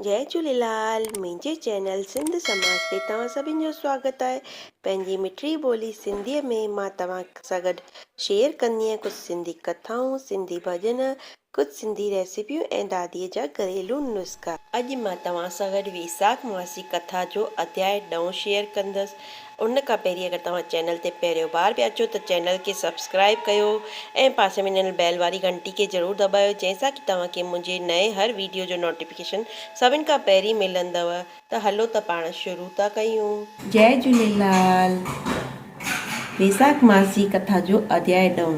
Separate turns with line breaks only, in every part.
جئي جهوليلال منهنجي چينل سنڌ سماج تي توهان سڀن جو سواگت آهي پنهنجي مٺڙي ٻولي سنڌي ۾ مان توهان سان گڏ شيئر ڪندينء ڪجهه سنڌي ڪٿائون سنڌي ڀڄن ڪجهه سنڌي ريسيپيون ۽ دادي جا گهريلو نسخا. اڄ مان توهان سان گڏ ويساک ماسي ڪٿا جو اڌياء ڏهون شيئر ڪندس ان کان پهرين اگر توهان چينل تي پهريون بار پيا اچو ته چينل کي سبسڪرائب ڪيو ۽ پاسي ۾ ڏنل بيل واري گهنٽي کي ضرور دٻايو جنهن سان ڪي توهان کي منهنجي نئين هر ويڊيو جو نوٽيفڪيشن سڀن کان پهرين ملندو. ته هلو ته پاڻ شروع ٿا ڪيون. جئه جهوليلال ويساک ماس جي ڪٿا جو اڌياء ڏهون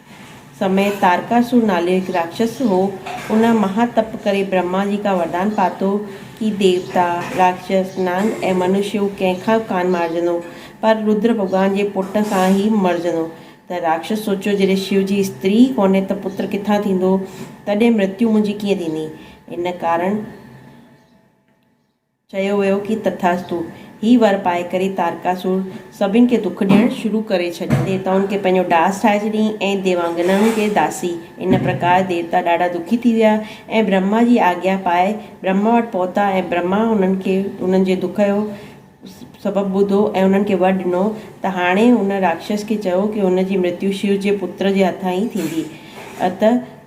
سميت تارڪاسور نالي هڪ راڪشس هو. ان مها تپ ڪري برهما جي کان وردان پاتو ڪي ديوتا، راڪشس، نانگ ۽ منش هو ڪنهن کان به ڪانه مارجندو پر رودر ڀڳوان جي پٽ سان ئي مرجندو ته راڪشس سوچيو جڏهن شو جي استري ئي ڪونهي ته پتر ڪٿان ٿيندو تڏهن مرتيو منهنجي ڪيئن ٿيندي ان ڪارڻ چيو ويو ڪي تٿاستو. هي ور پائي ڪري تارڪاسور سڀن کي دک ڏيڻ شروع ڪري ڇڏيو. ديوتائن کي پنهنجو ڏاس ٺاهي ڇڏيائين ۽ ديوانگنائن کي داسي. ان پرڪار ديوتا ڏاڍا دکي ٿي ويا ۽ برهما جي آگيا پائي برهما وٽ پهتا ۽ برهما انهن کي انهن جي دک جو سبب ٻڌو ۽ انهن کي ور ڏنو ته هاڻي ان راڪشس کي چئو ڪي هن جي مرتيو شو جي پتر جي هٿان ئي ٿيندي. ات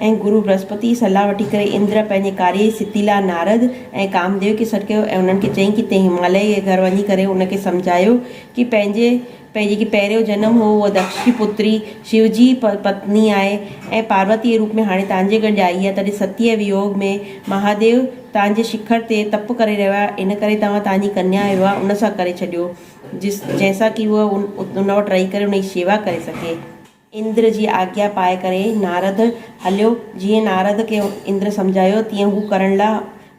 ۽ گرو برهسپتيء جي صلاح وٺي ڪري اندر پنهنجي ڪاري جي سڌي لاء نارد ۽ ڪامديو کي سڏ ڪيو ۽ انهن کي چيائين ڪي تين هماليه جي گهر وڃي ڪري ان کي سمجهايو ڪي پنهنجي پنهنجي جيڪي پهريون جنم هو اها دڪش جي پتري شو جي پتني آهي ۽ پاروتيء جي روپ ۾ هاڻي توهان جي گڏ آئي آهي تڏهن ستيء جي ويوگ ۾ مهاديو توهان جي شکر تي تپ ڪري رهيو آهي ان ڪري توهان توهان جي ڪنيا جو ويواه ان سان ڪري ڇڏيو جس جنهن سان ڪي هوء ان وٽ رهي ڪري ان جي شيوا ڪري سگهي. اندر جي آگيا پائي ڪري نارد هليو. جيئن نارد کي اندر سمجهايو تيئن هو ڪرڻ لاء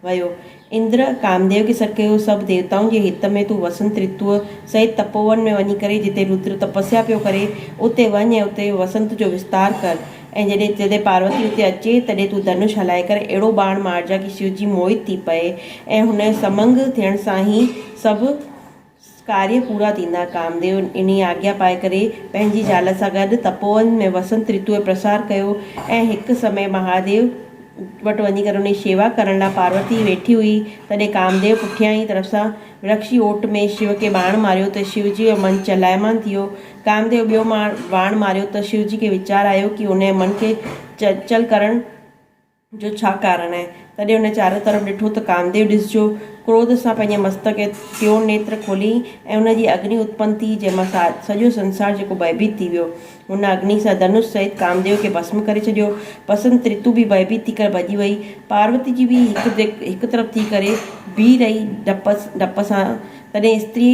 ويو. اندر ڪامديو کي سڏ ڪيو، سڀ ديوتائن جي هت ۾ تون وسنت رتوء سهت تپوون ۾ وڃي ڪري جتي رودر تپسيا پيو ڪري، اتي وڃ ۽ اتي وسنت جو وستار ڪر ۽ جڏهن جڏهن پاروتي اتي اچي تڏهن تون ڌنوش هلائي ڪري اهڙو ٻاڻ مارجان ڪي شيوجي موهت ٿي پئي ۽ هن سمنگ ٿيڻ سان هي سڀ ڪاريه پورا ٿيندا. ڪامديو انهيء آگيا پائي ڪري پنهنجي زال سان گڏ تپوون ۾ وسنت رتوء جو پرسار ڪيو ۽ هڪ سمي مهاديو وٽ وڃي ڪري انهيء جي شيوا ڪرڻ لاء پاروتي ويٺي هئي، تڏهن ڪامديو پٺيان ئي طرف سان ورڪش جي اوٽ ۾ شيو کي ٻاڻ ماريو ته شيو جي جو من چلائمان ٿيو. ڪامديو ٻيو ٻاڻ ماريو ته شيو جي کي ويچار آيو ڪي انهيء من کي چنچل ڪرڻ. جو ڇا ڪارڻ آهي؟ تڏهن هن چارئون طرف ڏٺو ته ڪامديو ڏسجو ڪروڌ سان پنهنجي مستڪ ۽ ٽيون نيتر کولي ۽ ان جي اگني اتپن ٿي، جنهن مان سڄو سنسار جيڪو ڀئڀيت ٿي ويو. هن اگني سان ڌنوش سهت ڪامديو کي ڀسم ڪري ڇڏيو. بسنت رتو به ڀئڀيت ٿي ڪري ڀڄي وئي. پاروتي جي به هڪ طرف ٿي ڪري بيهي رهي ڊپ ڊپ سان. تڏهن استري.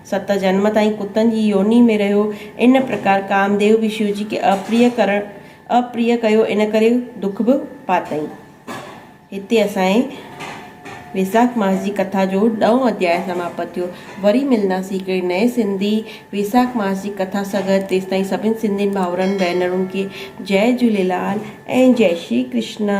ست جنم تائين ڪتن جي يوني ۾ رهيو. ان پرڪار ڪامديو به شيوجي کي اپريه ڪرڻ اپريه ڪيو ان ڪري دک به پاتائين. هتي اسان جي ويساک ماس جي ڪٿا جو ڏهون اڌياء سماپت ٿيو. وري ملنداسين هڪڙي نئين سنڌي ويساک ماس جي ڪٿا سان گڏ تيستائين سڀني سنڌين ڀائرن ڀينرن کي جئي جهوليلال ۽ جئي شري ڪرشنا.